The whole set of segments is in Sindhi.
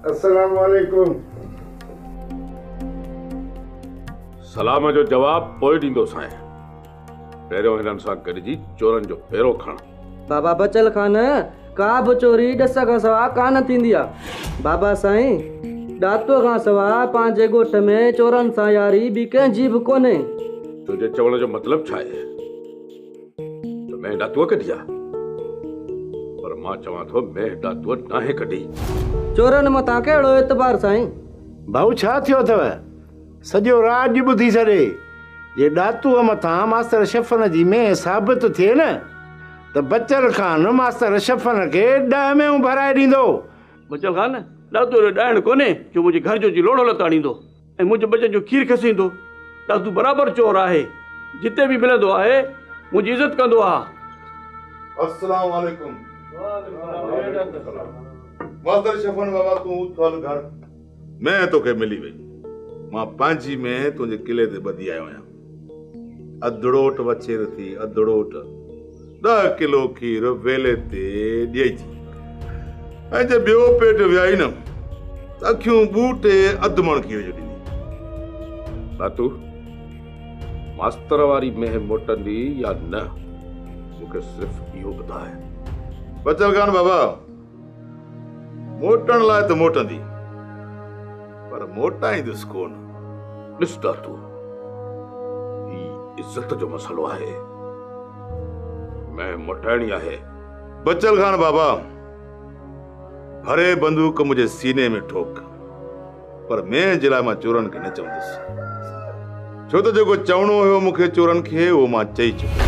السلام عليڪم سلام جو جواب پوء ڏيندو سائين پهريون هنن سان گڏجي چورن جو پهرو کڻ بابا بچل خان ڪا به چوري ڏس کان سوا ڪان ٿيندي آهي بابا سائين ڏاتو کان سوا پنهنجي ڳوٺ ۾ چورن سان ياري ٻي ڪنهن جي به ڪونهي تنهنجي چوڻ جو مطلب ڇا آهي مينهن ڏاتوء ڪڍي آ پر مان چوان ٿو مينهن ڏاتوء ناهي ڪڍي. چورن مٿان ڪهڙو اعتبار سائين. ڀائو ڇا ٿيو اٿو؟ سڄو راڄ ٻڌي ڇڏي جي ڏاتوء مٿان ماستر شفن جي مينهن ثابت ٿئي نه ته بچل خان ماستر شفن کي ڏهه مينهون ڀرائي ڏيندو. بچل خان ڏاتوء جو ڏائڻ ڪونهي جو منهنجي گهر جو جي لوڙهو لتاڙيندو. ۽ منهنجي ٻچن جو کير کسيندو ته ادو برابر چور آهي جتي به ملندو آهي منهنجي عزت ڪندو آهي. السلام عليڪم ماستر شفن بابا تون اٿ هل گهر مين توکي ملي ويندو مان پنهنجي مين تنهنجي قلعي تي ٻڌي آيو آهيان. اڌڙوٽ وڇير ٿي اڌڙوٽ ڏهه ڪلو کير ويلي تي ڏيئي ٿي ۽ جي ٻيو پيٽ ويائي نه ته اکيون ٻوٽي اڌ مڻ کير جو ڏيندي باتو ماستر واري مهه موٽندي يا نه مون کي صرف اهو ٻڌاء بچل خان بابا موٽڻ لاء ته موٽندي پر موٽائيندس ڪونه. ڏس داتو هي عزت جو مسئلو آهي مين موٽائڻي آهي. بچل خان بابا ڀري بندوق منهنجي سيني ۾ ٺوڪ پر مين جي لاء مان چورن کي نه چوندس ڇو ته جيڪو چوڻو هيو مون کي چورن کي اهو مان چئي چڪس.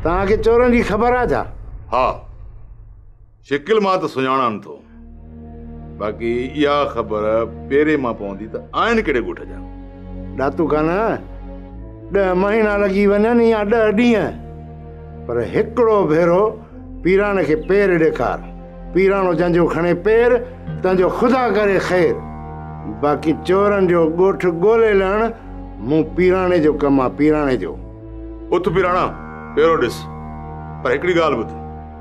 توهان کي چورن جي خبر آهي ڇا؟ ها. شڪل مان ته سڃاڻان ٿو باقي اها خبر پيري مان پوندي ته آهن ڪهڙي ڳوٺ جا ڏاتو خان ڏه مهينا لڳي وڃن يا ڏه ڏينهن پر هڪڙو ڀيرو پيراڻ کي پير ڏيکار پيراڻو جنهنجو کڻي پير تنهنجو خدا ڪري خير باقي چورن جو ڳوٺ ڳولي لهڻ مون پيراڻي جو ڪم آ پيراڻي جو اٿ پيراڻا پيرو ڏس پر هڪڙي ڳالهه ٻڌ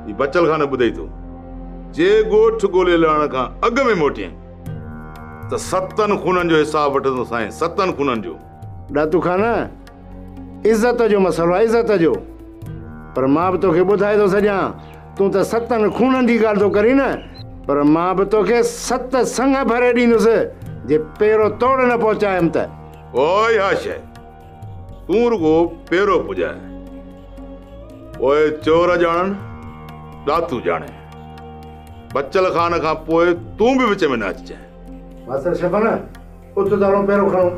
هي بچل خانه ٻڌئي ٿو، جي ڳوٺ ڳولي لهڻ کان اڳ ۾ موٽيئين ته ستن خونن جو حساب وٺندو سائين، ستن خونن جو. ڏاتو خانه، عزت جو مسئلو آهي، عزت جو. پر مان به توکي ٻڌائي ٿو سڄان، تون ته ستن خونن جي ڳالهه ٿو ڪرين نه، پر مان به توکي ست سڱ ڀري ڏيندس، جي پيرو توڙ نه پهچايم ته. اهو ئي آ شيء. تون رڳو پيرو پڄاء، پوء چور ڄاڻن، ڏاتو ڄاڻي. بچل خان کان پوء تون به وچ ۾ نه اچجانء. ماستر شفن، اٿ ته هلون پيرو کڻون.